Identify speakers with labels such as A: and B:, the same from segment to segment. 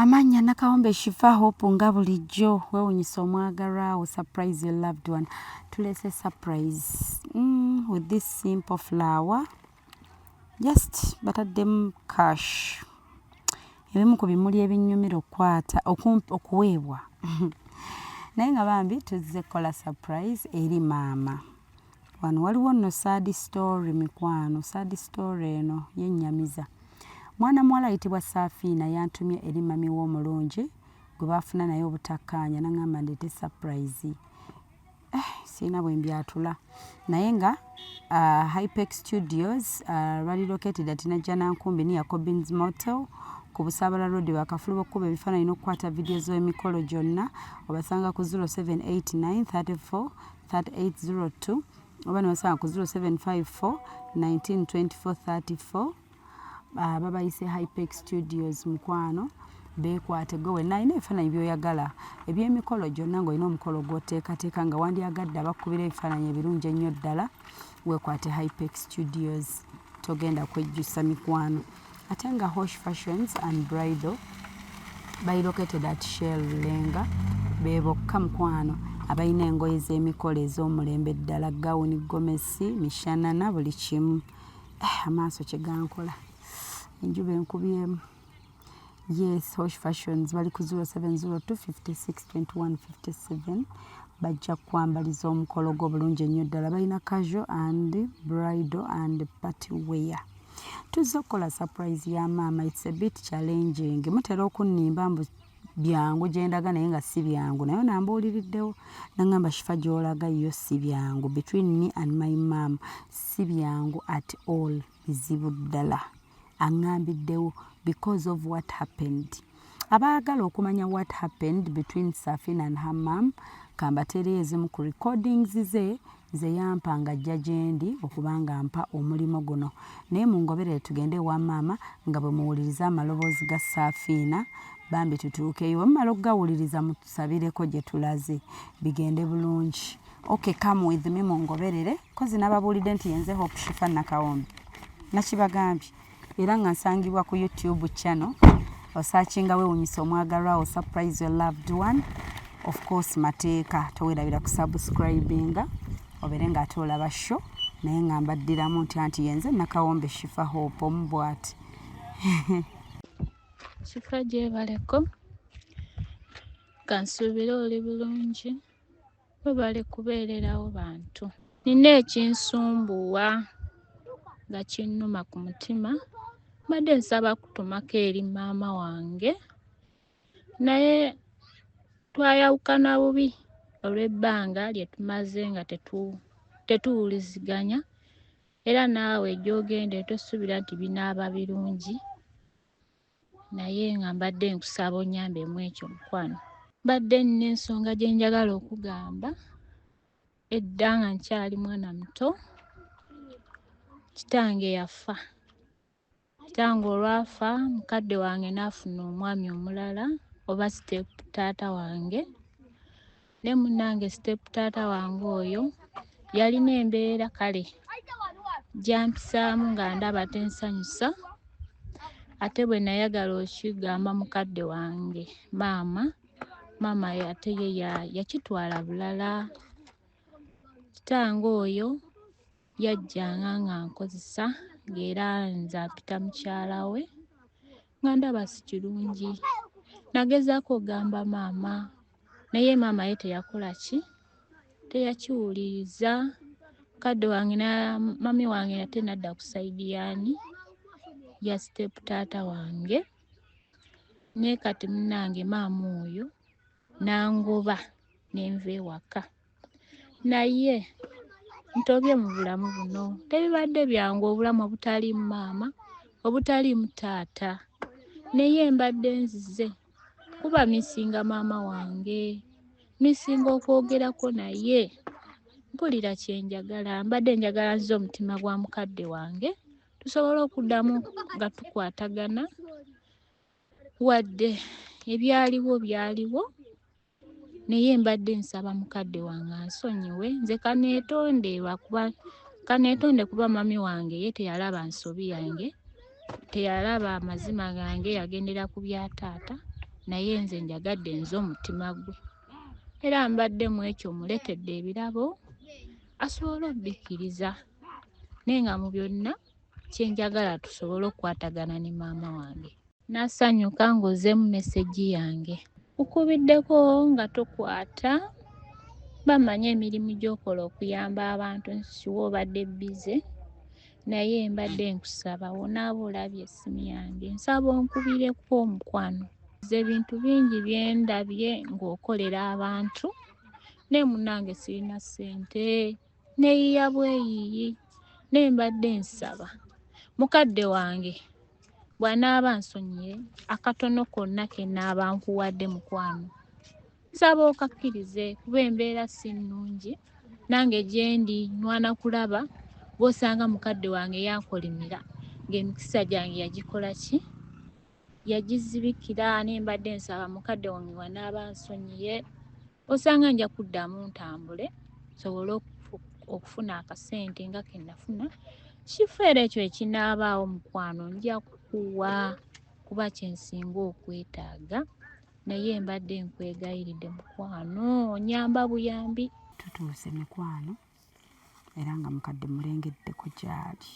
A: Amannya
B: Nakawombe Shifa Hope nga bulijjo wewunyisa omwagalwa wo surprise your loved one tulese surprise mm, with this simple flower just bataddemu cash ebimu ku bimuli ebinyumira okukwata okuweebwa naye nga bambi tuzze kukola surprise eri maama wano waliwo nno sad story mikwano sad story eno yennyamiza mwana muwala ayitibwa saafiina yantumye eri mami we omulungi gwe baafuna naye obutakkaanya naŋamba ndeete surprise eh, sirina bwe mbyatula naye nga uh, hypex studios uh, lwali located ati najja nankumbi niya cobins motel ku busabala road bakafulu bokukuba ebifaananyi n'okukwata vidiyo z'emikolo gyonna obasanga ku 078 934 3802 oba nebasanga ku 0754 192434 ah, babayise hypex studios mukwano beekwate gwe wenna alina ebifaananyi byoyagala ebyemikolo gyonna ngaolina omukolo gwoteekateeka nga wandyagadde abakubira ebifaananyi ebirungi ennyo ddala weekwate hypex studios togenda kwejjusa mikwano ate nga hosh fashions and bridal bali located at shell lenga bebokka mukwano abalina engoye z'emikolo ez'omulembe ddala gawuni gomesi mishanana buli kimu eh, amaaso kyegankola enjuba enkubyemu yes hosh fashions bali ku 0702562157 bajja kukwambaliza omukolo gwo bulungi ennyo ddala balina casual and bridal and party wear tuzze okukola surprise ya maama its a bit challenging mutera okunnimba mbu byangu gyendaga naye nga si byangu naye nambuuliriddewo nangamba shifa gyolaga yo si byangu between me and my mam si byangu at all bizibu ddala aŋambiddewo because of what happened abaagala okumanya what happened between safina and her mam kambateereyo ezimu ku recordings ze nze yampa nga ajja gyendi okuba nga mpa omulimu guno naye mungoberere tugende ewa maama nga bwe muwuliriza amaloboozi ga saafiina bambi tutuukeyo wemumala okugawuliriza mutusabireko gye tulaze bigende bulungi ok come with me mungoberere kozi nababuulidde nti yenze hope shifa nakawombi nakibagambye era nga nsangibwa ku youtube channel osakinga wewunyisa omwagalwa wo surprise your loved one of course mateeka towerabira ku subscribinga obere nga ate olaba show naye nga mbaddiramu nti anti yenze nakawombe shifa hope omu bwati
C: shifa gyebaleko kansuubire oli bulungi Webale kubeererawo bantu. Nina ekinsumbuwa nga kinnuma ku mutima. Mbadde nsaba kutumako eri maama wange naye twayawukana bubi olw'ebbanga lye tumaze nga tetuwuliziganya era naawe gy'ogenda tosuubira nti binaaba birungi. naye nga mbadde nkusaba onyambe mu ekyo mukwano mbadde nina ensonga gye njagala okugamba edda nga nkyali mwana muto kitange yafa kitange olwafa mukadde wange n'afuna omwami omulala oba sitepu taata wange ne munange step taata wange oyo yalina embeera kale gyampisaamu nga ndaba tensanyusa ate bwe nayagala okigamba mukadde wange maama maama ate ye yakitwala bulala kitange oyo yajjanga ng'ankozesa ng'era nze apita mukyala we nga ndaba si kirungi nagezaako ogamba maama naye maama ye teyakola ki teyakiwuliriza kadde wange na mami wange nate nadda ku saidi yaani ya sitepu taata wange naye kati munange maama oyo nangoba nenva ewaka naye ntobye mu bulamu buno tebibadde byangu obulamu obutaliimu maama obutaliimu taata naye mbadde nzize kuba misinga maama wange misinga okwogerako naye mpulira kyenjagala mbadde njagala nzize omutima gwa mukadde wange tusobole okuddamu nga tukwatagana wadde ebyaliwo byaliwo naye mbadde nsaba mukadde wange ansonyiwe nze kaneetonde lwakuba kaneetonde kuba mami wange ye teyalaba nsobi yange teyalaba amazima gange yagendera ku bya taata naye nze njagadde nze omutima gwe era mbadde mu ekyo muletedde ebirabo asobole okubikkiriza naye nga mu byonna kyenjagala tusobole okukwatagana ne maama wange Nasanyuka ng'ozzeemu mesegi yange. Nkukubiddeko nga tokwata. Bamanyi emirimu gy'okola okuyamba abantu nti sure obadde bbize naye mbadde nkusaba wonaaba olabye essimu yange nsaba onkubireko omukwano. Nze ebintu bingi bye ndabye ng'okolera abantu naye munnange sirina ssente. neyiya bweyiyi naye mbadde nsaba mukadde wange bwanaaba nsonyiye akatono konna kenaaba nkuwadde mukwano nsaba okakkirize kuba embeera si nnungi nange gyendi nwana kulaba bwosanga mukadde wange yakolimira ng'emikisa gyange yagikola ki yagizibikira ne mbadde nsaba mukadde wange wanaaba nsonyiye osanga nja kuddamu ntambule nsobole okufuna akasente nga ke nafuna kifeera ekyo ekinaabaawo mukwano nja kukuwa kuba kye nsinga okwetaaga naye mbadde nkwegayiridde mukwano onyamba buyambi tutuuse
B: mikwano era nga mukadde mulengeddeko gyali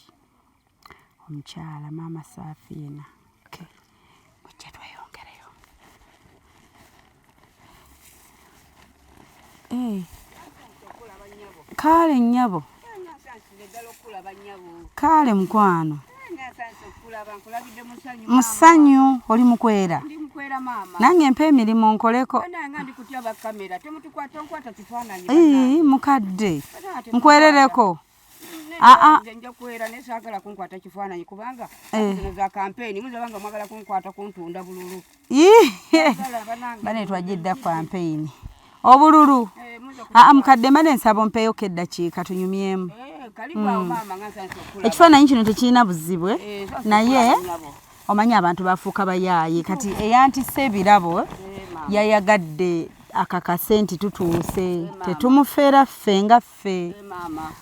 B: omukyala maama saafiina ojja tweyongereyo eh. kaale nnyabo kaale mukwano musanyu oli mukwera nange mpa emirimu nkoleko mukadde nkwerereko Ah,
D: ah. nze nja kuwera naye saagala kunkwata kifaananyi kubanga eh. zino za kampeyini muzaba nga mwagala kunkwata kuntunda bululu bane
B: twajidda kampeyini obululu eh, aa ah, mukadde mane nsaba ompeyoko eddakiika tunyumyemu eh, hmm. ekifaananyi kino tekirina buzibu naye omanyi abantu bafuuka bayaaye kati eyantisa ebirabo yayagadde akakase nti tutuuse tetumufeera ffe nga ffe ffe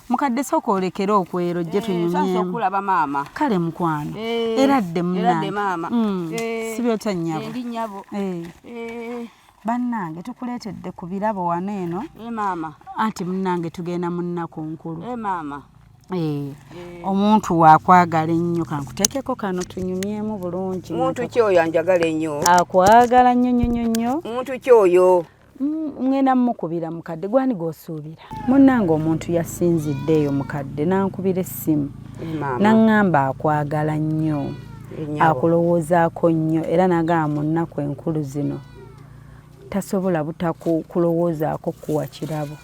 B: mukadde sooka olekere okwero jje eh, tunyumyemuokulaba maama kale mukwano eh, era dde munange mm, eh, sibyota nyabo bannange tukuleetedde ku birabo wano eno anti munange tugenda mu nnaku nkulu Eh, eh. omuntu wakwagala ennyo kankutekeko kano tunyumyemu bulungi muntu kyoyo anjagala
D: ennyo akwagala nnyo
B: nnyo nnyo nnyo muntu kyoyo
D: Mm, mwena
B: mukubira mukadde gwani gwosuubira munnange omuntu yasinzidde eyo mukadde nankubira essimu naŋŋamba akwagala nnyo akulowoozaako nnyo era nagamba mu nnaku enkulu zino tasobola butakulowoozaako kuwa kirabo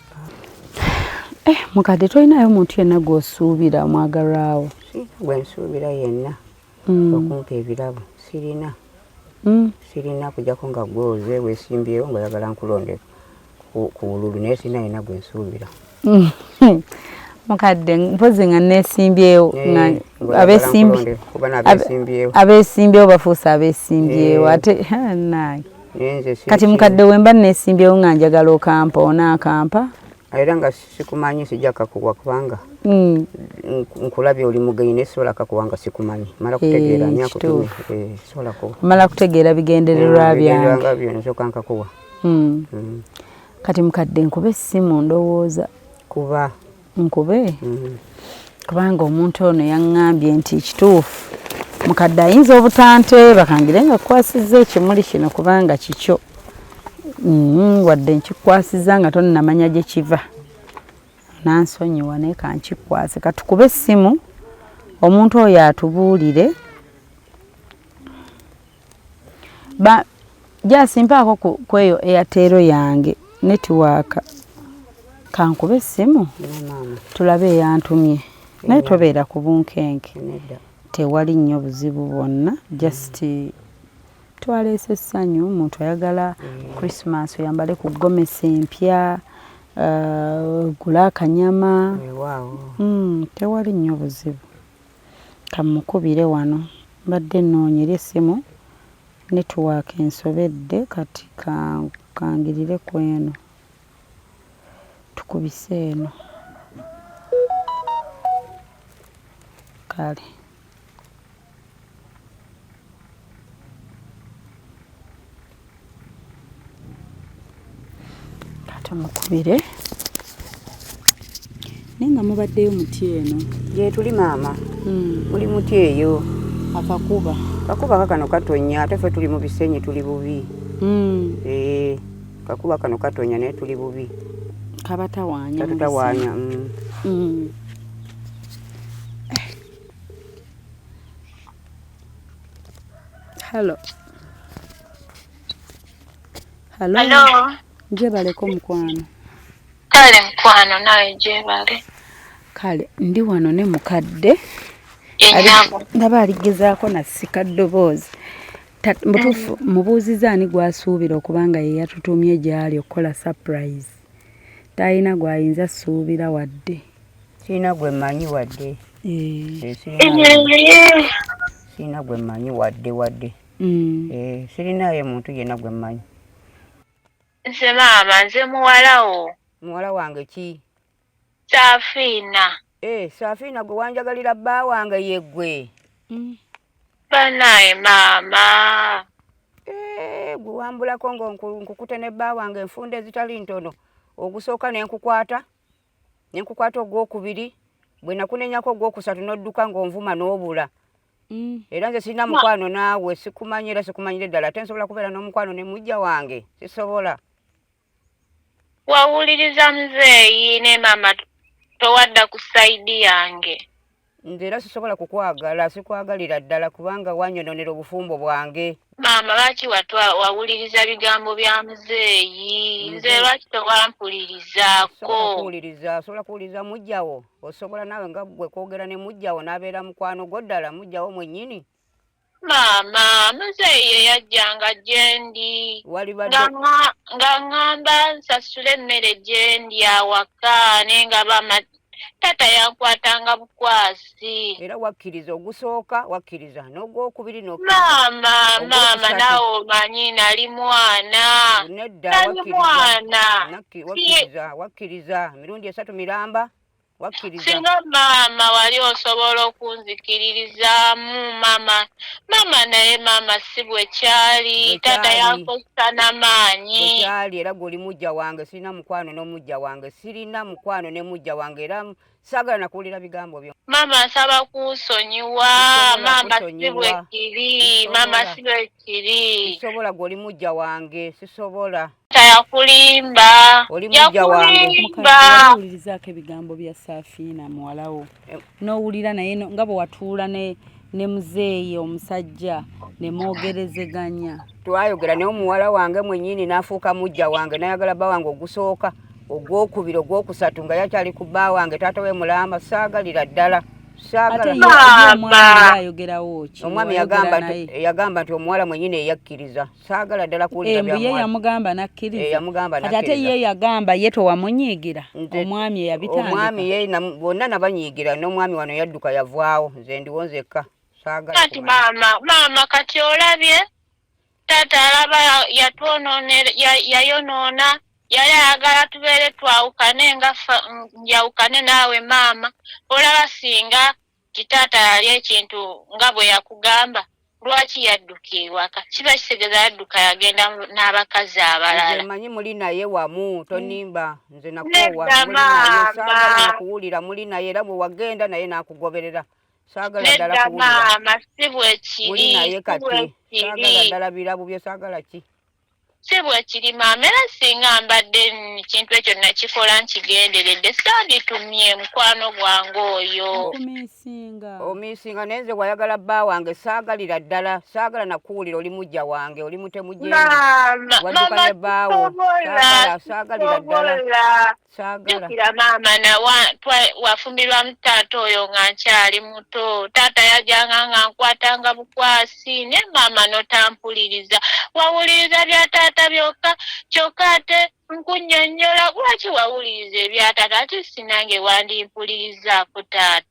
B: eh, mukadde tolinayo omuntu yenna gwosuubira omwagalwawo gwensuubira
D: yenna mm. okumpa ebirabo sirina mm. sirina kujako nga gwoze wesimbyewo nga oyagala nkulonde ku wululu naye sirina yina gwe nsuubira mm. mukadde
B: mpozi nga nesimbyewo eh, abesimbyewo bafuuse abesimbyewo eh. ate naye kati mukadde wemba nesimbyewo nga njagala okampa onaakampa era nga
D: sikumanyi sijja kakuwa kubanga mm. nkulabye oli mugenyi naye sisobola kakuwa nga sikumanyi mala eh, kutegeera hey, nyakutume eh, sisobola
B: kuwa mala kutegeera bigendererwa mm, byange byo nsoka nkakuwa
D: mm.
B: mm. kati mukadde nkube essimu ndowooza kuba
D: nkube mm.
B: kubanga omuntu ono yaŋŋambye nti kituufu mukadde ayinza obutanteeba kangire nga kukwasizza ekimuli kino kubanga kikyo mm-hmm, wadde nkikwasizza nga tonnamanya gye kiva nansonyiwa naye kankikwase katukube essimu omuntu oyo atubuulire ba jasi mpaako ku kweyo airtel yange network kankube essimu tulabe eyantumye naye tobeera ku bunkenke tewali nnyo buzibu bwonna just twaleese essanyu omuntu ayagala mm. christmas oyambale ku gomesi empya uh, gula akanyama mm, tewali nnyo buzibu Kammukubire wano. Mbadde nnoonya eri essimu network ensobedde kati kangirire ku eno. Tukubise eno. Kale. tumukubire naye nga mubaddeyo muti eno gyetuli maama
D: hmm. muli muti eyo akakuba
B: kakuba kakano
D: katonya ate fe tuli mu bisenyi tuli bubi hmm. eh, kakuba kano katonya naye tuli bubi kabatawanya
B: kabatawanya hmm. Halo. Halo. Halo. Njebaleko mukwano. Kale
C: mukwano nawe jebale. Kale
B: ndi wano ne mukadde. Enyabo. Ndaba aligezaako na sika ddoboozi. Mutuufu mm. mubuuziza ani gwasuubira okuba nga ye yatutumye gy'ali okukola surprise. Talina gw'ayinza suubira wadde. sirina gwe
D: mmanyi wadde sirina gwe mmanyi wadde wadde mm. eh, sirinaayo muntu yenna gwe mmanyi
C: nze maama nze muwalawo muwala wange
D: ki safiina
C: eh, safiina
D: gwe wanjagalira bba wange yeggwe mm.
C: banaye maama eh,
D: gwe wambulako nga nkukute ne bba wange enfunda ezitali ntono ogusooka ne nkukwata ne nkukwata ogwokubiri bwe nakunenyako ogwokusatu n'odduka ng'onvuma n'obula mm. era nze sirina mukwano naawe sikumanyi era sikumanyire ddala ate nsobola kubeera n'omukwano ne mujja wange sisobola
C: wawuliriza muzeeyi ne maama towadda ku sayidi yange nze era sisobola
D: kukwagala sikwagalira ddala kubanga wanyononera obufumbo bwange maama lwaki
C: watwa wawuliriza bigambo bya muzeeyi nze lwaki tewampulirizaako kuwuliriza osobola
D: kuwuliriza mujjawo osobola naawe nga gwe kwogera ne mujjawo n'abeera mukwano gwo ddala mujjawo mwennyini maama
C: muzeeyi ye yajjanga gye ndi nga ŋŋamba nsasule emmere gye ndi awaka naye nga bama taata yankwatanga bukwasi era wakkiriza
D: ogusooka wakkiriza n'ogwokubiri maama maama
C: naawe omanyi nali mwana nedda
D: mwana wakkiriza wakkiriza emirundi esatu miramba singa maama
C: wali osobola okunzikiririzaamu maama maama naye maama si bwe kyali taata yankozesa na maanyi kyali era gwe oli
D: mujja wange sirina mukwano n'omujja wange sirina mukwano ne mujja wange era saagala nakuwulira bigambo byo maama nsaba
C: kunsonyiwa maama si bwe kiri maama si bwe kiri
D: sisobola gwe oli mujja wange sisobola tayakulimba
C: oli mujja
D: wange owulirizaako
B: ebigambo bya safiina muwalawo eh. n'owulira naye nga bwe watuula ne ne muzeeyi omusajja ne mwogerezeganya twayogera naye
D: omuwala wange mwennyini n'afuuka mujja wange nayagala bba wange ogusooka ogwokubiri ogwokusatu nga yakyali ku bba wange taata we mulamba saagalira ddala omwami yagamba nti omuwala mwennyini eyakkiriza saagala ddala kuwulira bya ye yamugamba
B: nakkiriza eh, yamugamba kati ate ye yagamba ye tewamunyiigira omwami eyabitandika omwami ye
D: bonna nabanyiigira n'omwami wano yadduka yavaawo nze ndiwo nzekka saagala kati maama
C: maama kati olabye taata alaba yatwonoonera yayonoona yali ayagala tubeere twawukane nga njawukane naawe maama olaba singa nti taata yali ekintu nga bwe yakugamba lwaki yadduka ewaka kiba kitegeza yadduka yagenda n'abakazi abalala manyi muli naye
D: wamu tonimba nze nakuwulira muli naye era bwe wagenda naye nakugoberera saagala ddala kuwulira maama si
C: bwekiri si bwekiri
D: saagala ddala birabu bye saagala ki si
C: bwekiri maama era singa mbadde ekintu ekyo nakikola nkigenderedde sanditumye mukwano gwange oyo
B: omisinga naye nze wayagala
D: bba wange saagalira ddala saagala nakuwulira oli mujja wange oli mutemujewadukanye bbaawo saagalira ddala jukira
C: maama nawa wafumbirwamu taata oyo nga nkyali muto taata yajanga nga nkwatanga bukwasi naye maama notampuliriza wawuliriza bya taata byokka kyokka ate nkunyonyola lwaki wawuliriza ebya taata ati sinange wandimpulirizaako taata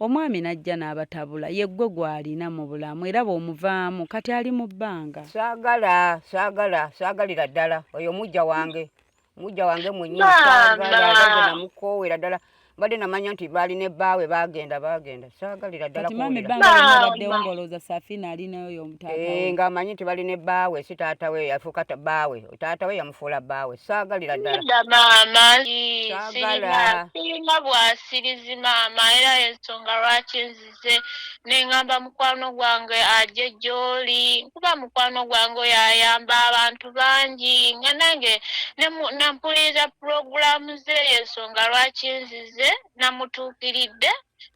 B: omwami n'ajja n'abatabula yeggwe gw'alina mu bulamu era bw'omuvaamu kati ali mu bbanga saagala saagala saagalira
D: ddala oyo mujja wange mujja wange mwennyini saagalamukoowera ddala mbadde namanya nti baali ne bbaawe baagenda baagenda saagalira ddalaaddewo
B: ngolooza safina alinayo yomutaatae eh, ng'amanyi nti bali ne
D: bbaawe si taatawe yafuuka bbaawe taata we yamufuula bbaawe saagalira ddala maama
C: sirina bwasirizi maama era ensonga lwaki nzize nengamba mukwano gwange aje gyoli kuba mukwano gwange oyo ayamba abantu bangi nga nange nampuliriza pulogulaamu ze ensonga lwaki nzize namutuukiridde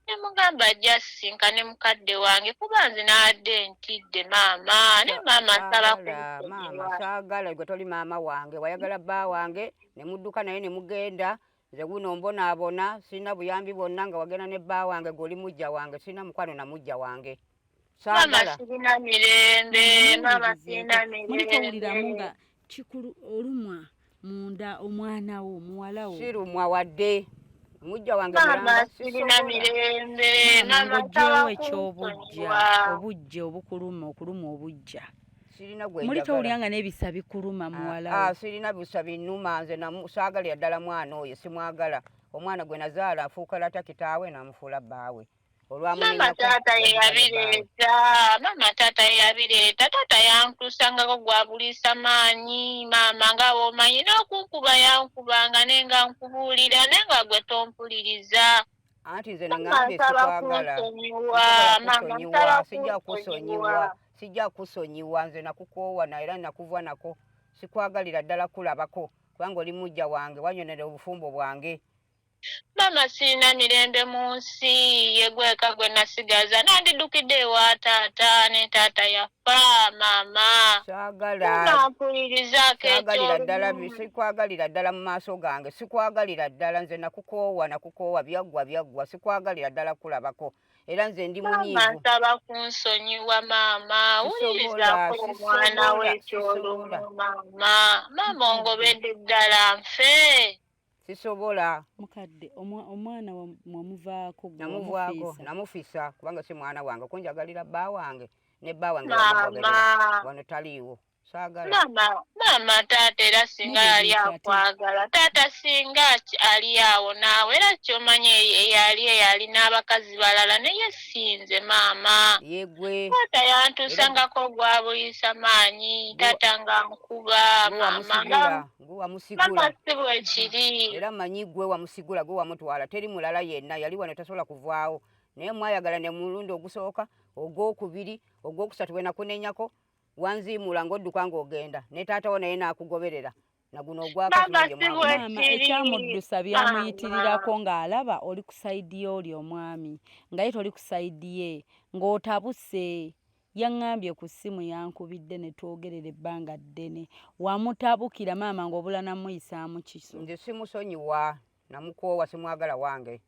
C: ne mugamba ajja asisinkane mukadde wange kuba nze naadde ntidde maama ne maama nsaba maama
D: saagala gwe toli maama wange wayagala bba wange ne mudduka naye ne mugenda nze guno mbonaabona sirina buyambi bwonna nga wagenda ne bba wange gwe oli mujja wange sirina mukwano na mujja wange
C: mulikowuliramu nga
B: kikulu olumwa munda omwana wo muwala wo sirumwa wadde
D: omujja wange mulangosirina
C: mirembe ngojjewo ekyobujja
B: obujja obukuluma okuluma obujja muli towulira nga n'ebisa bikuluma ah, muwala ah, sirina bisa binuma
D: nze saagala yaddala mwana oyo simwagala omwana gwe nazaala afuuka lata kitaawe namufuula bbaawe mama
C: taata yeyabireeta mama taata yeyabireeta taata yankusangako gwabuliisa maanyi maama nga bwomanyi n'okunkuba yankubanga ne nga nkubuulira ne nga gwe tompuliriza anti nze
D: nengambye sikwagala sijja kusonyiwa sijja kusonyiwa nze nakukoowa na era nakuvwa nako sikwagalira ddala kulabako kubanga oli mujja wange wanyonera obufumbo bwange Maama
C: sirina mirembe mu nsi, ye gweka gwe nasigaza. Nandidukidde ewa taata ne taata yafa maama. Saagala. Nampulirizaako Saagalira ddala bi- eky'olumu.
D: sikwagalira ddala mu maaso gange sikwagalira ddala nze nakukoowa nakukoowa byaggwa byaggwa sikwagalira ddala kulabako era nze ndi Maama munyiivu nsaba kunsonyiwa
C: maama Sisobola, wulirizaako omwana we sisobola, eky'olumu sisobola. maama. Maama ongobedde ddala nfe. sisobola
D: mukadde
B: omwana wamuvaako namuvaako
D: namufisa kubanga si mwana wange kunjagalira bba wange ne bba wange wano taliiwo maama
C: taata era singa yali akwagala taata singa ali awo naawe era kyomanya eyali eyali n'abakazi balala naye sinze maama taata
D: yantuusangako
C: ogwabuyisa maanyi taata nga nkuba maama gwe wamusigula era manyi gwe
D: wamusigula gwe wamutwala teri mulala yenna yali wano tasobola kuvaawo naye mwayagala ne mulundi ogusooka ogwokubiri ogwokusatu bwe nakunenyako wanziimuula ng'odduka ng'ogenda ne taatawo naye n'akugoberera naguno ogwakamaama
B: ekyamuddusa byamuyitirirako ng'alaba oli ku sayidi ye oli omwami nga ye toli ku sayidi ye ng'otabuse Yang'ambye ku ssimu yankubidde ne twogerera ebbanga ddene. Wamutabukira maama ng'obula namuyisaamu kiso. Nze simusonyiwa
D: namukoowa simwagala wange.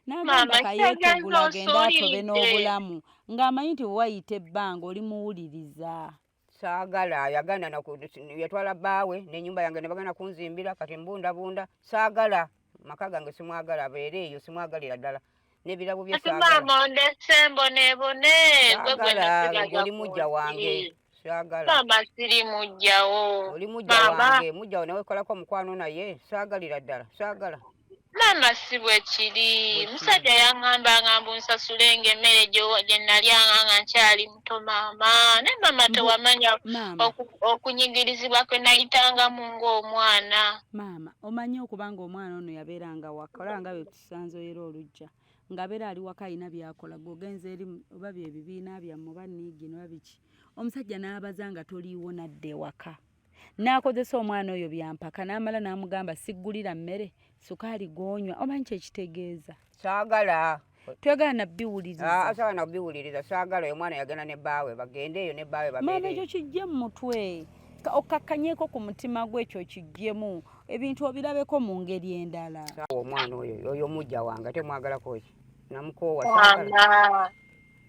D: N'agamba
B: kayeekegula agende atobe n'obulamu ng'amanyi nti bwe wayita ebbanga oli muwuliriza. Saagala
D: yagana yatwala bbaawe n'ennyumba yange ne bagana kunzimbira kati mbundabunda saagala. maka gange simwagala abeere eyo simwagalira ddala nebirabo byoli
C: mujja
D: wange maama siri
C: mujjawo oli mujja wange
D: mujjawo nawe kolako omukwano naye sagalira ddala sagala maama si
C: bwe kiri musajja yaŋŋambanga mbu nsasulenge emmere gye nnalyanga nga nkyali to maama ne maama tewamanya okunyigirizibwa kwe nayitangamu ng'omwana maama omanyi
B: okuba ng'omwana ono yabeeranga waka olaba nga byetusanze era olujja ng'abeera ali waka alina byakola gweogenza eri oba byebibiina byammwe oba niigi noba biki omusajja n'abaza nga toliiwo nadda ewaka n'akozesa omwana oyo byampaka n'amala n'amugamba siggulira mmere sukaali gwonywa omanyi kyekitegeeza saagala twegala nabiwulirizaagala ah, nabiwuliriza
D: saagala oyo omwana yagenda ne baawe bagende eyo ne baawe maama ekyo kijje mu
B: mutwe okkakkanyeko ku mutima gwe ekyo kijjemu ebintu obirabeko mu ngeri endala omwana oyo
D: oyo omujja wange temwagalako ki namukoowa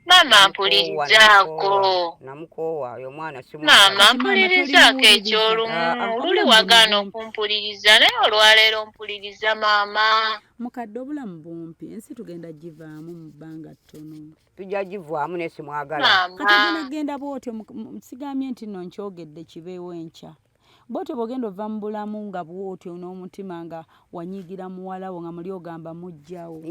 E: Maama mpulirizaako. Namukoowa oyo
D: omwana si Maama mpulirizaako
E: eky'olumu ah, ah, luli wagaana okumpuliriza naye olwaleero mpuliriza maama. Mukadde obulamu
B: bumpi ensi tugenda givaamu mu bbanga ttono. Tujja givaamu
D: naye simwagala. Maama. Kati genda
B: bw'otyo sigambye nti nno nkyogedde kibeewo enkya. bwotyo bwogenda ova mu bulamu nga bwotyo n'omutima nga wanyiigira muwala wo nga muli ogamba mujjawo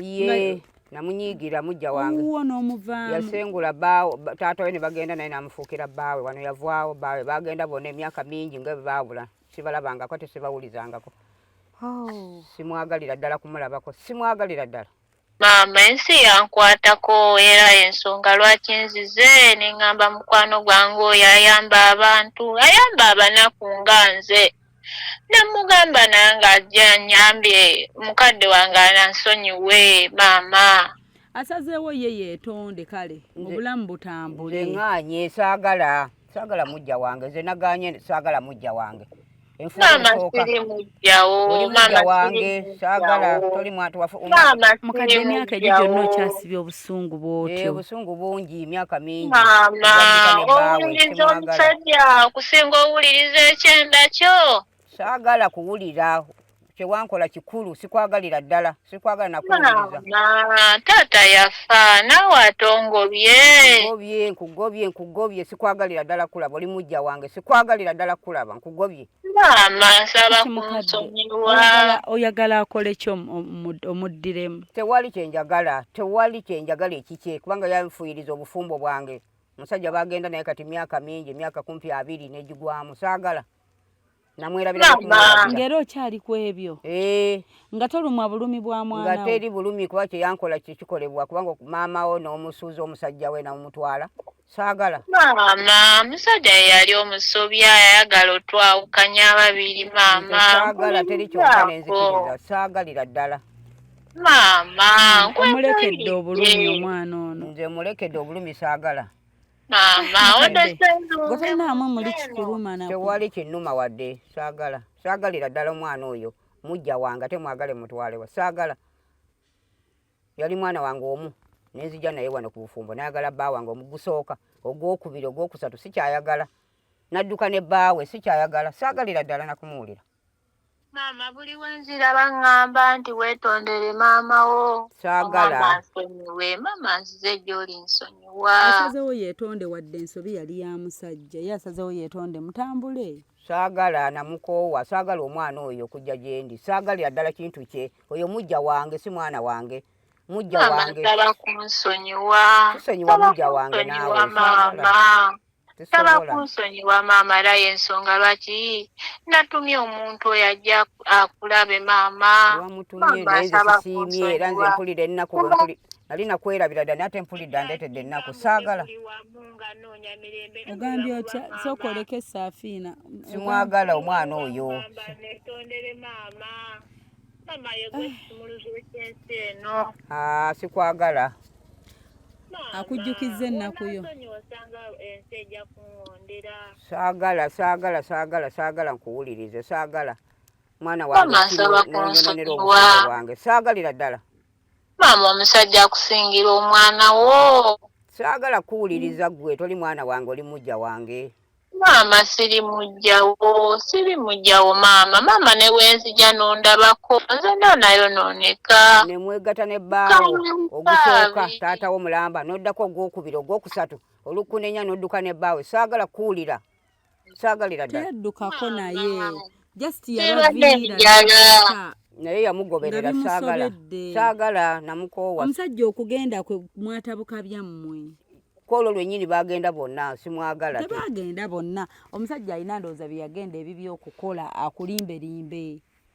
D: namunyiigira mujja wange uwo n'omuvaamu
B: yasengula baawo
D: taata we ne bagenda naye namufuukira baawe wano yavwawo baawe bagenda bona emyaka mingi nga baabula sibalabangako tesibawulizangako oh. simwagalira ddala kumulabako simwagalira ddala Maama ensi
E: yankwatako era y'ensonga lwaki nzize ne ŋŋamba mukwano gwange oyo ayamba abantu, ayamba abanaku nga nze. Ne mmugamba nange ajje annyambe, mukadde wange ansonyiwe, maama. Asazeewo
B: ye yeetonde kale obulamu butambule. Nze ŋŋaanyi,
D: saagala. saagala mujja wange nze naganye saagala mujja wange
E: wange sagala
D: toli mwatu wafumukadde emyaka
B: egyo gyonna okyasibya obusungu bwotyo eh, obusungu bungi
D: emyaka mingi
E: owuliriza omusajja okusinga owuliriza ekyenda kyo saagala
D: kuwulira kyewankola kikulu sikwagalira ddala sikwagala nakuwuliriza taata
E: yafa naawe ate ongobye nkugobye nkugobye nkugobye
D: sikwagalira ddala kulaba oli mujja wange sikwagalira ddala kulaba nkugobye maama nsaba
E: kunsonyiwa oyagala akole
B: ki omuddiremu tewali
D: kyenjagala tewali kyenjagala ekikye kubanga yanfuyiriza obufumbo bwange omusajja bagenda naye kati myaka mingi emyaka kumpi abiri negigwamu saagala namwerabirangera
B: okyali ku ebyo eh. nga tolumwa bulumi bwa mwana nga teri bulumi kuba kye
D: yankola kye kikolebwa kubanga maama wo n'omusuuza omusajja we namumutwala saagala maama
E: musajja ye yali omusobi ayagala otwawukanya ababiri maama saagala teri kyonka
D: nenzikiriza saagalira ddala maama
E: omulekedde
B: obulumi omwana ono nze mulekedde obulumi
D: saagala
B: gotanaamwe muli kikuluma na tewali kinuma wadde
D: saagala saagalira ddala omwana oyo mujja wange ate mwagale mutwalewa saagala yali mwana wange omu nenzija naye wano ku bufumbo nayagala bba wange omugusooka ogwokubiri ogwokusatu sikyayagala nadduka ne bbaawe sikyayagala saagalira ddala nakumuwulira maama
E: buli wenziraba ŋŋamba nti weetondere maama wo kyagala nsonyiwe
D: maama
E: nzize gy'oli nsonyiwa asazewo yeetonde
B: wadde ensobi yali ya musajja ye asazewo yeetonde mutambule saagala
D: namukoowa saagala omwana oyo okujja gye ndi saagalira ddala kintu kye oyo mujja wange si mwana wange mujja wange
E: kusonyiwa mujja
D: wange naawe
E: saba kunsonyiwa maama era yensonga lwaki natumye omuntu oyo ajja akulabe maama
D: era nze mpulira ennaku nali nakwerabira dda nate mpulidde andeetedde ennaku saagala
B: ogambye otya sooka oleke saafiina simwagala
D: omwana oyo ah. ah, sikwagala akujjukizza
B: ennaku yo saagala
D: saagala saagala saagala nkuwulirize saagala mwana
E: wange saagalira ddala
D: maama
E: omusajja akusingira omwana wo saagala
D: kuwuliriza ggwe toli mwana wange oli mujja wange Maama siri
E: mujjawo, siri mujjawo maama, maama ne wenzija nondabako, nze nda nayo noneka. Ne mwegata ne
D: baawo, ogusooka, taata wo mulamba, noddako ogwokubira, ogwokusatu, olukunenya nodduka ne baawo, saagala kuwulira, saagalira ddala. Teyaddukako naye,
B: just yabaviira naye
D: yamugoberera saagala, saagala namukoowa. Omusajja okugenda
B: kwe mwatabuka byammwe. kwolwo lwenyini
D: bagenda bonna simwagala tebagenda bonna
B: omusajja alina ndowooza byeyagenda ebibi okukola akulimbelimbe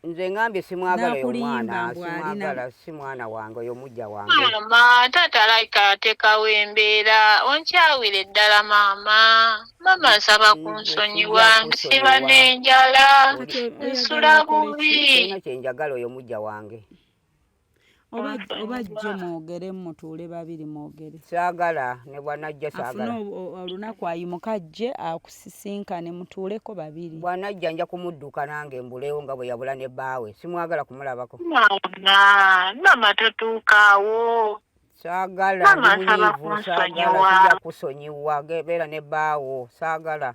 B: nze ngambye
D: simwagala yo mwana simwagala si mwana wange oyo mujja wange mama taata
E: like atekawo embeera onkyawire ddala maama maama nsaba ku nsonyi wange siba n'enjala nsula
D: bubi kyenjagala
E: oyo
D: mujja wange
B: oba jjo mwogere mutuule babiri mwogere kyagala ne
D: bwanajja kyagala olunaku
B: ayimuka ajje akusisinkane mutuuleko babiri bwanajja nja kumudduka
D: nange mbuleewo nga bwe yabula ne bbaawe simwagala kumulabako maama
E: maama totuukaawo saagala
D: ndimunyiivu saagala sija kusonyiwa beera ne bbaawo saagala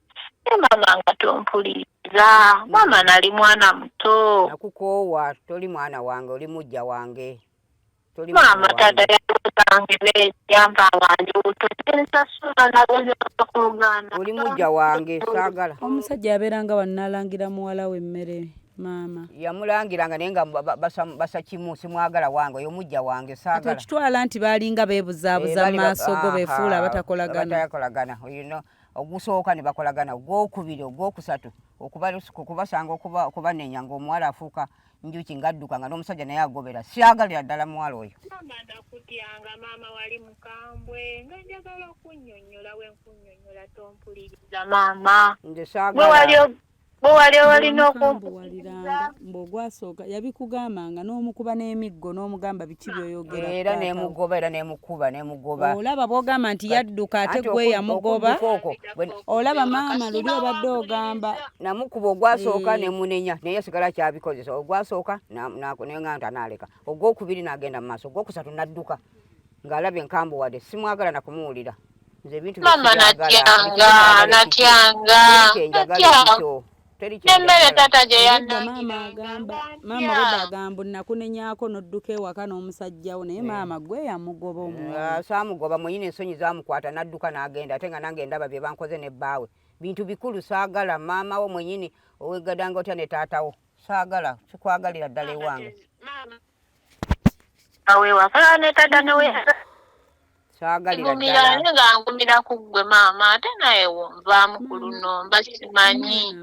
E: e mama nga tompuliriza mama mm. nali mwana muto nakukoowa
D: toli mwana wange oli mujja wange maama
E: taata yasange neyamba wange otoensasula nagozakuluganda oli mujja wange
D: saagala omusajja yabeeranga
B: wanalangira muwala we emmere maama yamulangiranga naye
D: nga basa kimu simwagala wange oyo mujja wange saagala kitwala nti baalinga
B: beebuzaabuza mu eh, maaso go befuula abatakolagana
D: ogusooka ne bakolagana ogwokubiri ogwokusatu okubasanga okubanenya ngaomuwala afuuka njuki ngadduka nga n'omusajja naye agobera syagalira ddala muwala oyo maama ndakutyanga
E: maama wali mukambwe nga njagala okunyonyola wenkunyonyola tompuliriza maama nze saagala
D: bo wali
E: owalina okumbuwaliranga
B: mbwogwasooka yabikugambanga n'omukuba n'emiggo n'omugamba biki byoyogera era nemugoba
D: era nemukuba nemugoba olaba bwogamba
B: nti yadduka ate gwe yamugoba olaba maama luli obadde ogamba namukuba
D: ogwasooka eh. nemunenya naye yasigala kyabikozesa ogwasooka nenga nti anaaleka ogwokubiri nagenda mu maaso ogwokusatu nadduka ng'alabye nkambuwade simwagala nakumuwulira nze ebintu emmere
E: taata gye yanamaama
B: agamba nakunenyako nodduka ewaka n'omusajja wo naye maama gwe yamugoba omusaamugoba ah, mwenyini ensonyi
D: zamukwata n'adduka n'agenda ate nga nange ndaba bye bankoze ne bbaawe bintu bikulu saagala maama wo mwenyini owegadanga otya ne taata wo saagala sikwagalira ddala ewange
E: awewaka netata neweyaka
D: ngumira nze nga ngumira ku
E: ggwe maama ate naye wonvaamu ku luno mba simanyi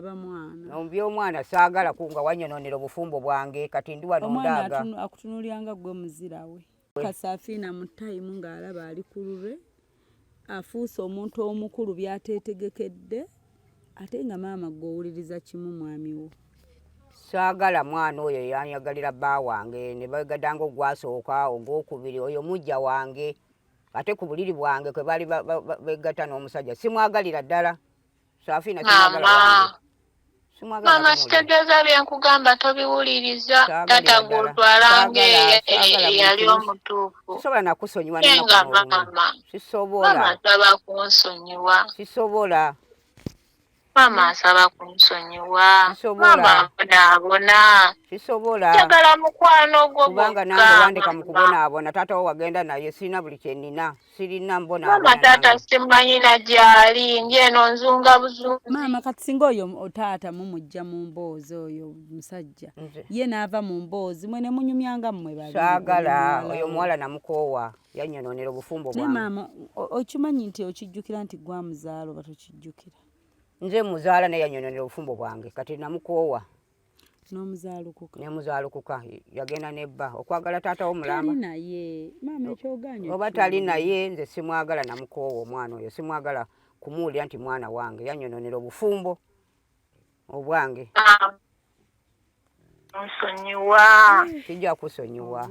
E: ombi
D: omwana saagala ku nga wanyononera obufumbo bwange kati ndi wano ndaaga akutunulyanga
B: ggwe muzirawe kasafiina mu tayimu ng'alaba ali ku lulwe afuuse omuntu omukulu byateetegekedde ate nga maama gwe owuliriza kimu mwami wo saagala
D: mwana oyo yanyagalira bba wange ne bagadanga ogwasooka ogwokubiri oyo mujja wange ate ku buliri bwange kwe baali begatta n'omusajja simwagalira ddala Safina kimwagala Mama
E: sitegeeza bye nkugamba tobiwuliriza taata gwotwala ngeyali omutuufu sisobola nakusonyiwa
D: nga maama sisobola
E: asaba kunsonyiwa sisobola maama asaba kunsonyiwa maama abonaabona sisobola
D: njagala mukwano
E: gwo kubanga nange wandeka
D: mu kubonaabona taata wo wagenda naye sirina buli kyenina sirina mbona maama taata simanyina
E: gyali ndyeno nzunga buzungu maama kati singa oyo
B: otaata mumujja mu mboozi oyo musajja ye naava mu mboozi mwe nemunyumyanga mmwe basaagala oyo
D: omuwala namukoowa yanyononera obufumbo bwa maama okimanyi
B: nti okijjukira nti gwa muzaalo batokijjukira nze
D: muzaala naye yanyononera obufumbo bwange kati namukoowa n'omuzaalukuka
B: n'omuzaalukuka
D: yagenda ne bba okwagala taata wo mulamba naye
B: maama ekyoganyo oba tali naye
D: nze simwagala namukoowa omwana oyo simwagala kumuwulira nti mwana wange yanyononera obufumbo obwange
E: nsonyiwa kijja
D: kusonyiwa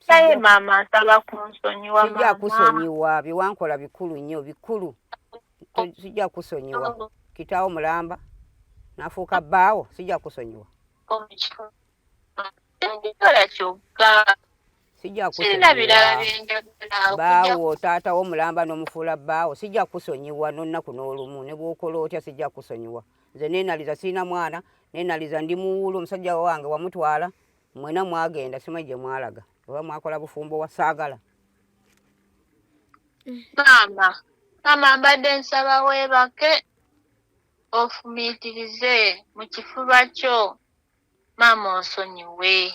E: Saye mama nsaba kunsonyiwa mama. Sijja kusonyiwa
D: biwankola bikulu nnyo bikulu. Sijja kusonyiwa. Oh. Kitaawo mulamba nafuuka bbaawo sijja kusonyiwa. Oh, Ekikola kyokka. Sijja kusonyiwa. Bbaawo taata wo mulamba n'omufuula bbaawo sijja kusonyiwa n'onnaku n'olumu ne bw'okola otya sijja kusonyiwa. Nze neenaliza sirina mwana neenaliza ndi muwuulu omusajja wange wamutwala. Mwena mwagenda simanyi gye mwalaga oba mwakola bufumbo wa saagala.
E: Maama, maama mbadde nsaba weebake ofumiitirize mu kifuba kyo maama onsonyiwe.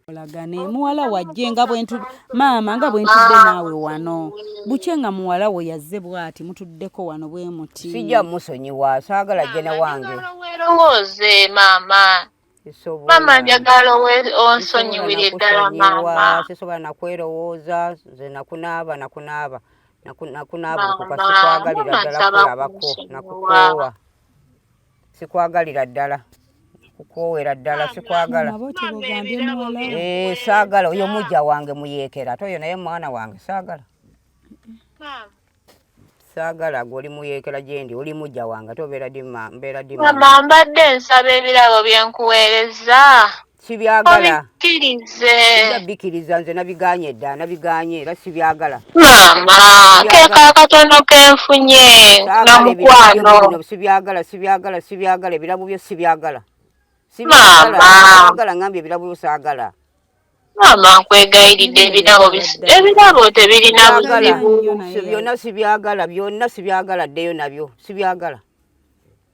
B: olagane muwala wajje nga bwentu maama nga bwentudde naawe wano bukye nga muwala we yazze bwati mutuddeko wano bwe muti sijja musonyiwa
D: saagala jjene wange werowooze
E: maama mama njagala onsonyiwire ddala mama sisobola nakwerowooza
D: nze nakunaaba nakunaaba nakunaaba okukasi kwagalira ddala kulabako nakukoowa sikwagalira ddala kukwowera ddala sikwagala eh, saagala oyo mujja wange muyeekera ate oyo naye mwana wange saagala saagala gwe oli muyeekera gye ndi oli mujja wange ate obeera di ma- mbeera di mama. mama mbadde
E: nsaba ebirabo bye nkuweereza sibyagala
D: obikkirize
E: sijja bikiriza nze
D: nabiganye dda nabiganye era sibyagala maama
E: keeko akatono ke nfunye na saagala ebirabo byo mukwano bino sibyagala sibyagala
D: sibyagala ebirabo byo sibyagala Maama. sibyagala
E: ngambye ebirabo byo saagala
D: maama
E: nkwegayiridde ebirabo ebirabo tebirina buzibu byonna sibyagala
D: byonna sibyagala ddeyo nabyo sibyagala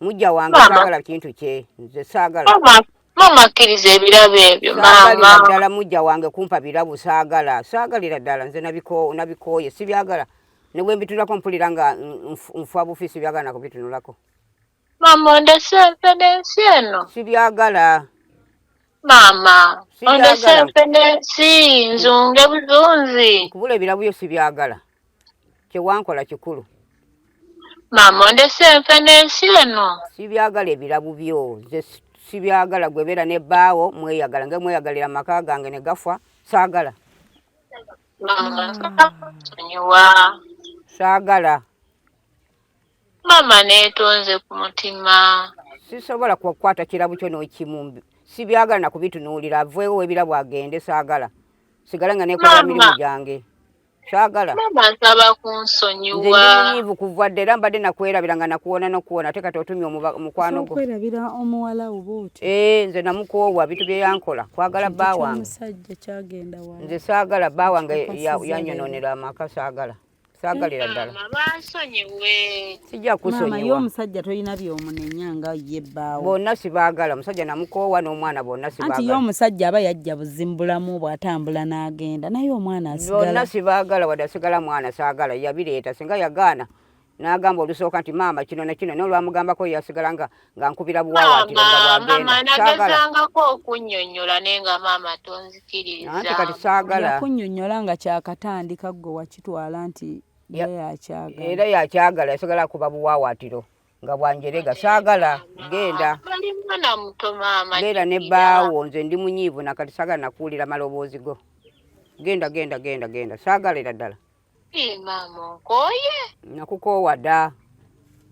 D: mujja wange saagala kintu kye nze saagala maama akkiriza
E: ebirabo ebyo maama ddala mujja
D: wange kumpa birabo saagala saagalira ddala nze nabikooye sibyagala ne bwe mbitunulako mpulira nga nfa bufi sibyagala nakubitunulako Mama
E: ondese nfe n'ensi eno. Sibyagala.
D: Mama
E: ondese nfe n'ensi nzunge buzunzi. Nkubula ebirabu byo
D: sibyagala. Kyewankola kikulu.
E: Mama ondese nfe n'ensi eno. Sibyagala ebirabu
D: byo nze sibyagala gwe beera ne baawo mweyagala nge mweyagalira amaka gange ne gafa saagala. Mama nsonyiwa. Saagala.
E: Maama neetonze ku mutima. Sisobola
D: kukwata kirabo kyo n'ekimu. Sibyagala na kubitunuulira. Aveewo w'ebirabo agende. Saagala. Sigala nga neekolera mirimu gyange. Saagala. Maama nsaba
E: kunsonyiwa. Nze ndi munyiivu kuva
D: dda era mbadde nakwerabira nga nakuwona n'okuwona ate kati otumye omukwano gwo. Okwerabira omuwala wo
B: bw'otyo. Ee eh, nze namukoowa
D: bintu bye yankola kwagala bba wange.
B: Nze saagala bba wange
D: yanyonoonera amaka saagala. sagalira ddala
E: sijja kusonyiwa
D: omusajja tolina
B: byomunenya nga ye bbaawo bonna sibaagala
D: omusajja namukoowa n'omwana bonna sibaagala anti ye omusajja aba yajja
B: buzimbulamu bw'atambula n'agenda naye omwana asigala bonna sibaagala wadde
D: asigala mwana saagala yabireeta singa yagaana n'agamba olusooka nti maama kino na kino n'olwamugambako yasigala nga nga nkubira buwawaatiro nga bwagendaagezangako
E: okunnyonnyola naye nga maama tonzikirizaanti kati saagala
D: yakunnyonnyola nga
B: kyakatandika ggwe wakitwala nti yakyagala
D: era yakyagala yasagala kuba buwawaatiro nga bwanjerega saagala genda
E: beera ne baawo
D: nze ndi munyiivu nakati saagala nakuwulira maloboozi go genda genda genda genda saagala era ddala Ee maama
E: onkooye? Nakukoowa dda.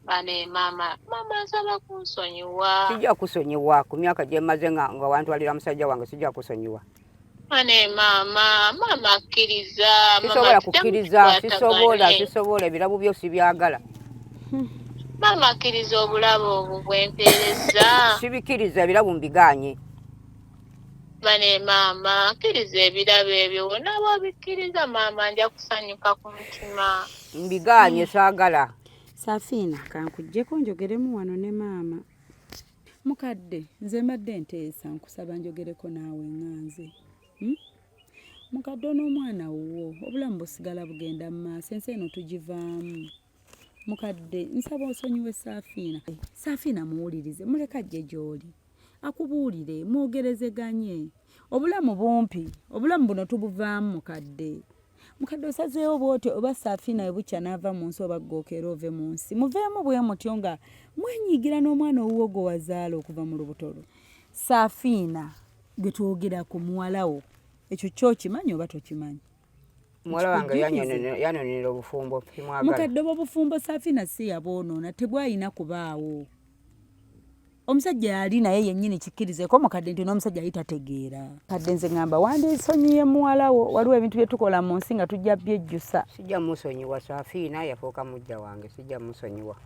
D: Bane
E: maama, maama nsaba kunsonyiwa. Sijja kusonyiwa
D: ku myaka gye mmaze nga nga wantwalira musajja wange sijja kusonyiwa. Bane
E: maama, maama akkiriza. Sisobola
D: kukkiriza, sisobola, sisobola ebirabu byo sibyagala.
E: Maama akkiriza obulabo obwo bwe mpeerezza. Sibikkiriza ebirabu
D: mbiganye.
E: bane maama kkiriza ebirabo ebyo wonaaba obikkiriza maama nja kusanyuka ku mutima mbigaanye
D: saagala safiina
B: kankujjeko njogeremu wano ne maama mukadde nze mbadde nteesa nkusaba njogereko naawe nganze hmm? mukadde onoomwana wuwo obulamu busigala bugenda mu maaso ensi eno tugivaamu mukadde nsaba osonyiwe saafiina saafiina muwulirize muleka jje gy'oli akubuulire mwogerezeganye obulamu bumpi obulamu buno tubuvaamu mukadde mukadde osazeewo bwoti oba saafiina ebukya n'ava mu nsi oba ggookera ove mu nsi muveemu bwe mutyo nga mwenyigira n'omwana owuwo gwe wazaala okuva mu lubuto lwo saafiina gwe twogerako muwalawo ekyo kyokimanyi oba tokimanyi muwala wange
D: yanonera obufumbo mukadde oba obufumbo
B: safina si yabwonoona tebwalina kubaawo omusajja yali naye yennyini kikkirizeko mukadde nti n'omusajja yali tategeera kadde nze ŋamba wandisonyiye muwalawo waliwo ebintu bye tukola mu nsi nga tujja byejjusa sijja musonyiwa
D: safiina yafuuka mujja wange sijja musonyiwa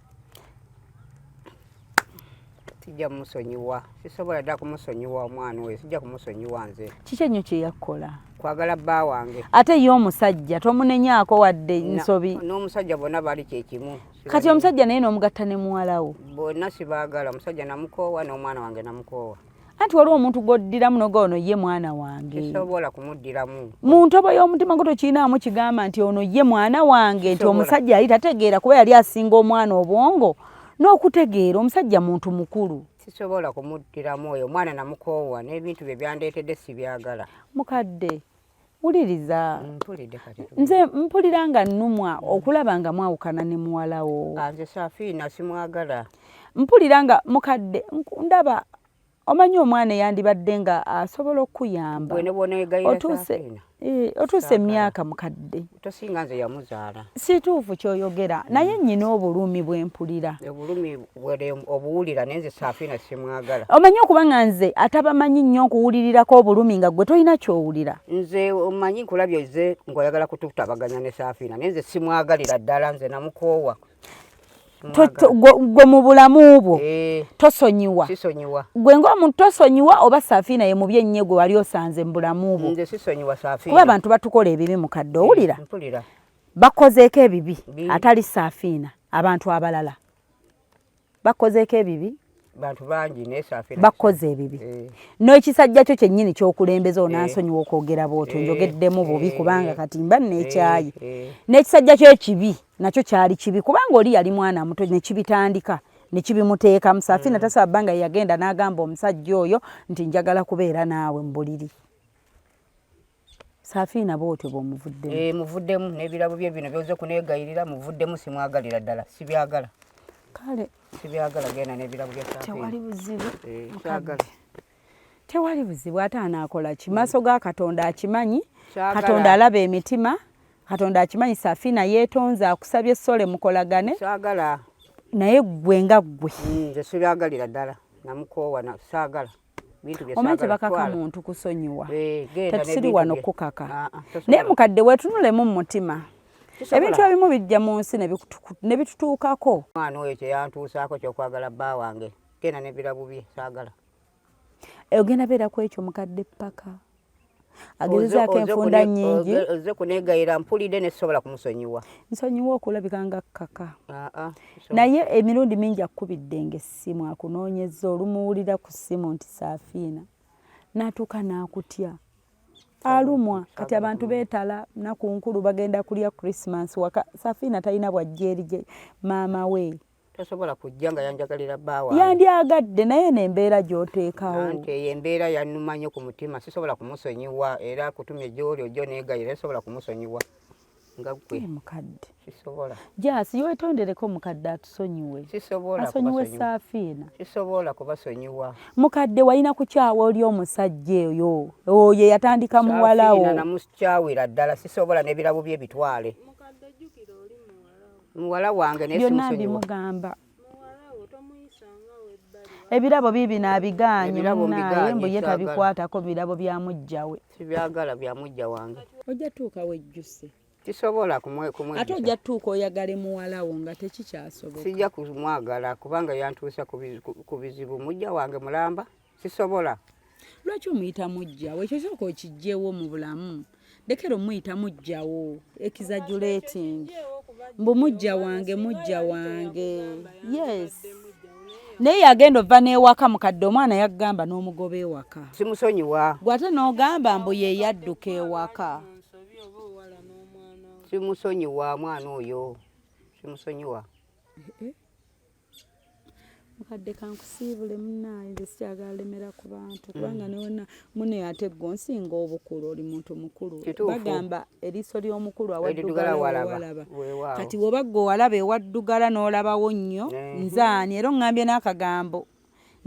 D: sijja kumusonyiwa sisobola dda kumusonyiwa omwana oyo sijja kumusonyiwa nze kiki ennyo kye yakkola
B: kwagala bba
D: wange ate ye omusajja
B: tomunenyaako wadde nsobi n'omusajja bonna bali
D: kyekimu kati omusajja naye
B: n'omugatta ne muwalawo bonna sibaagala
D: omusajja namukoowa n'omwana wange namukoowa anti waliwo omuntu
B: gwoddiramu noga ono ye mwana wange
D: mu ntobo y'omutima
B: gwo tokiinaamu kigamba nti ono ye mwana wange nti omusajja yali tategeera kuba yali asinga omwana obwongo n'okutegeera omusajja muntu mukulu sisobola kumuddiramu
D: oyo omwana namukoowa n'ebintu bye byandeetedde sibyagala mukadde
B: wuliriza
D: nze mpulira
B: nga nnumwa okulaba nga mwawukana ne muwalawo nze safiina
D: simwagala mpulira nga
B: mukadde ndaba omanyi omwana eyandibadde nga asobola okukuyamba otuuse eh, emyaka mukadde tosinga nze yamuzaala
D: situufu kyoyogera
B: mm. naye nyina obulumi bwempulira obulumi
D: obuwulira naye nze safiina simwagala omanyi okuba nga nze
B: atabamanyi nnyo nkuwulirirako obulumi nga gwe tolina kyowulira nze omanyi
D: nkulabye ze ngaoyagala kututabaganya ne safiina naye nze simwagalira ddala nze namukoowa
B: gwe mu bulamu bwo eh. tosonyiwa gwe
D: ngaomuntu
B: tosonyiwa oba safiina ye mubi ennye gwe wali osanze mu bulamu bwo kuba
D: abantu batukola ebibi
B: mukadde eh, owulira
D: bakozeeko
B: ebibi atali safiina abantu abalala bakozeeko ebibi bantu bangi
D: nesafira bakoze ebibi eh.
B: n'ekisajja kyo kyennyini kyokulembeza eh. onansonyiwa okwogera bwotyo eh. njogeddemu bubi eh. kubanga eh. kati mba nekyayi eh. eh. n'ekisajja kyo ekibi nakyo kyali kibi kubanga oli yali mwana muto nekibitandika nekibimuteekamu safina mm. tasaba bbanga yeyagenda n'agamba omusajja oyo nti njagala kubeera naawe mu buliri Safiina bwotyo bwomuvuddemu. Eh, muvuddemu n'ebirabo
D: bye bino byoze kunegayirira muvuddemu simwagalira ddala sibyagala. Kale
B: sibyagala genda
D: n'ebirabo bya Safiina. Tewali buzibu. Eh,
B: kyagala. Tewali buzibu ate anaakola ki? Maaso ga Katonda akimanyi. Katonda alaba emitima. Katonda akimanyi Safiina yeetonze akusabye sole mukolagane. Kyagala.
D: Naye ggwe
B: nga ggwe. Hmm, nze sibyagalira
D: ddala namukoowa saagala. omanti
B: bakaka muntu kusonyiwa eh, tetusiri wano kukaka ah, ah, naye mukadde wetunulemu mu mutima ebintu ebimu bijja mu nsi ne bitutuukako mwana oyo kyeyantuusaako
D: kyokwagala bba wange tena nebirabu bye saagala
B: ogenda beera ku ekyo mukadde paka agezezaako enfunda nyingi oze kunegayira
D: mpulidde nesobola kumusonyiwa nsonyiwa okulabika
B: nga kaka ah, ah, naye emirundi mingi akukubidde nga essimu akunoonyeza olumuwulira ku ssimu nti saafiina natuuka nakutya alumwa kati abantu betala nakunkulu bagenda kulya christmas waka saafiina talina bwajja eri maama wee tasobola kujja
D: nga yanjagalira bbaawa yandyagadde naye
B: nembeera gyoteekawo nti eyo embeera
D: yannuma nnyo ku mutima sisobola kumusonyiwa era kutumye gyoli ojjo negayira sisobola kumusonyiwa nga gwe mukadde sisobola jasi yetondereko
B: mukadde atusonyiwe sisobola asonyiwe
D: saafiina
B: sisobola
D: kubasonyiwa mukadde walina
B: kukyawa oli omusajja oyo oyo eyatandika muwalawo namukyawira
D: ddala sisobola nebirabo bye bitwale mukadde jukira oli muwalawo muwala wange byonna mbimugamba
B: ebirabo biibino abigaanye munaye mbu ye tabikwatako birabo bya mujja we sibyagala bya
D: mujja wange ojja tuuka
B: wejjuse tisobola
D: ate ojja tuuka
B: oyagale muwalawo nga tekikyasoboka sijja kumwagala
D: kubanga yantuusa ku bizibu mujja wange mulamba sisobola lwaki
B: omuyita mujja we ekyo kyoka okijjewo mu bulamu lekera omuyita mujjawo exaggerating mbu mujja wange mujja wange yes naye yagenda ova n'ewaka mukadde omwana yagamba n'omugoba ewaka simusonyiwa gwe
D: ate n'ogamba
B: mbu ye yadduka ewaka
D: simusonyiwa mwana oyo simusonyiwa eh, eh.
B: mukadde kankusiibule munaaye nze sikyagala lemera ku bantu kubanga newona mune ate gwe onsinga obukulu oli muntu mukulu bagamba eriiso ly'omukulu awaddugalaawalaba kati woba gwe owalaba ewaddugala n'olabawo nnyo mhm. nzaani era ongambye n'akagambo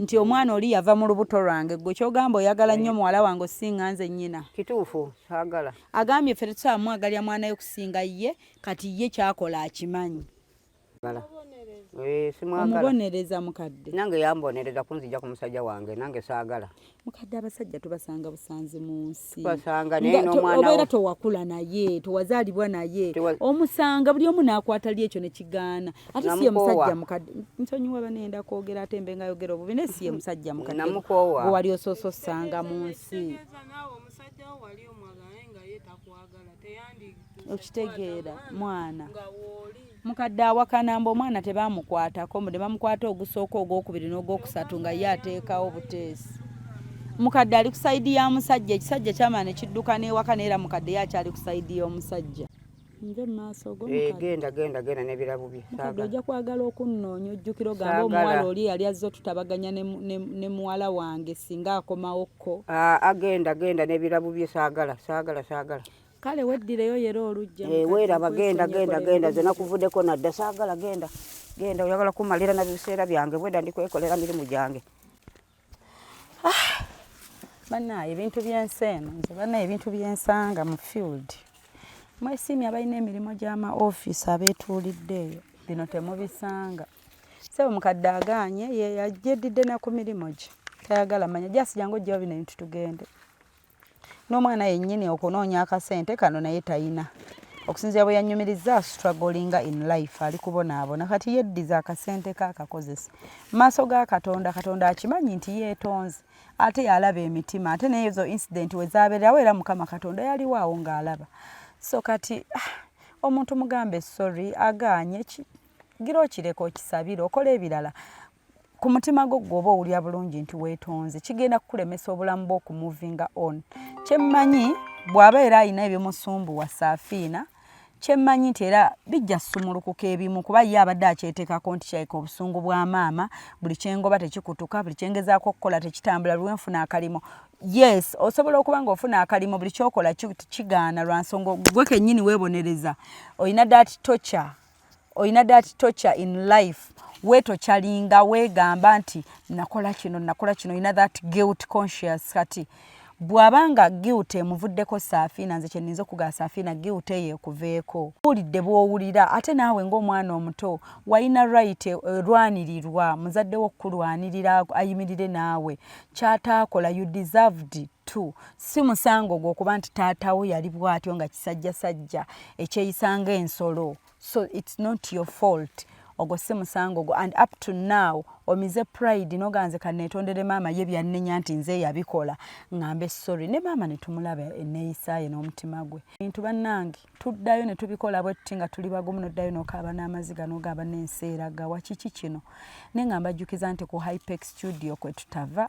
B: nti omwana oli yava mu lubuto lwange gwe kyogamba oyagala nnyo muwala wange osinga nze nnyina kituufu agala
D: agambye ffe
B: tetusaamwagalya mwanayo kusinga ye kati ye kyakola akimanyi Eh,
D: omubonereza mukadde
B: nange yambonereza
D: kunzija ku musajja wange nange saagala mukadde abasajja
B: tubasanga busanzi mu nsi
D: obeera towakula
B: naye tewazaalibwa naye omusanga buli omu naakwata li ekyo nekigaana ate siye musajja mukadde nsonyiwa banenda kwogera ate mbe nga yogera obubi naye siye musajja mukadde owali osoosa
D: osanga
B: mu nsi okitegeera mwana mukadde awakana mbu omwana tebamukwatako mbu nebamukwata ogusooka ogwokubiri n'ogwokusatu nga ye ateekawo buteesi mukadde ali ku sayidi ya musajja ekisajja kyamana nekidduka n'ewaka naye era mukadde ye akyali ku sayidi y'omusajja nze mumaaso gogenda eh, genda genda nebirabu
D: bye mukadde ojja kwagala
B: okunnoonya ojjukira ogamba omuwala oli yali azze otutabaganya ne muwala wange singa akomawo ko agenda ah,
D: genda nebirabu bye saagala saagala saagala
B: kale weddireyo yera olujja eh, weeraba genda
D: genda genda zena kuvudeko nadda saagala genda genda oyagala kumalira na biseera byange bweda ndi kwekolera mirimu gyange ah,
B: banaye ebintu byensi eno nze banaye ebintu byensanga mu field mwesiimye abalina emirimu gyama ofiisi abeetuulidde eyo bino temubisanga sebo mukadde aganye yeyajeddidde naku mirimu gye tayagala manya jasi jangu ojjawo bino ebintu tugende n'omwana yennyini okunoonya akasente kano naye tayina okusinzira bwe yanyumirizza astragolinga in life ali kubonaabona kati yeddiza akasente ke akakozesa maaso ga katonda katonda akimanyi nti yeetonze ate yalaba emitima ate neezo incident we zabeerawo era mukama katonda yaliwaawo ng'alaba so kati ah, omuntu mugambe sorry agaanye gira okireka okisabire okola ebirala ku mutima gwo gwoba owulira bulungi nti weetonze kigenda kukulemesa obulamu bwo okumuvinga on kyemmanyi bw'aba era alina ebimusumbuwa saafiina kyemmanyi nti era bijja sumulukuka ebimu kuba ye abadde akyeteekako nti kyaika obusungu bwa maama buli kyengoba tekikutuka buli kyengezaako okukola tekitambula luwe nfuna akalimo yes osobola okuba nga ofuna akalimo buli kyokola kigaana lwa nsonga gwe kennyini weebonereza olina dat tocha olina that torture in life wetokyalinga wegamba nti nakola kino nakola kino olina that guilt conscious kati bwaba nga guilt emuvuddeko saafina nze kyeninza okugaa saafina guilt eyo ekuveeko wulidde bwowulira ate naawe ngaomwana omuto walina right erwanirirwa muzadde wo okukulwanirira ayimirire naawe kyataakola you deserved two si musango ogwo okuba nti taatawo yali bwatyo nga kisajja sajja ekyeyisanga ensolo so its not your fault ogwo si musango ogwo and up to now omize pride noganze kanetondere maama ye byannenya nti nze yabikola ngambe sorry ne maama netumulaba eneyisaye n'omutima gwe bintu bannange tuddayo ne tubikola bwe tuti nga tuli bagumu noddayo nokaaba n'amaziga nogamba n'ensi eraga wakiki kino ne nga mbajjukiza nti ku hypex studio kwe tutava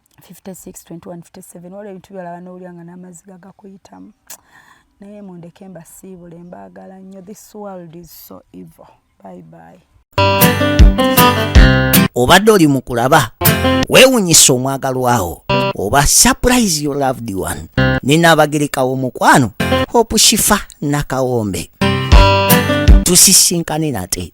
B: 562157 waliwo ebintu byolaba nowulira nga n'amazzi gagakuyitamu naye mundeke mbasiibule mbaagala nnyo this world is so evil bye bye
A: obadde oli mu kulaba weewunyisa omwagalwawo oba surprise your loved one ninaabagerekawo omukwano hope shifa nakawombe tusisinkane nate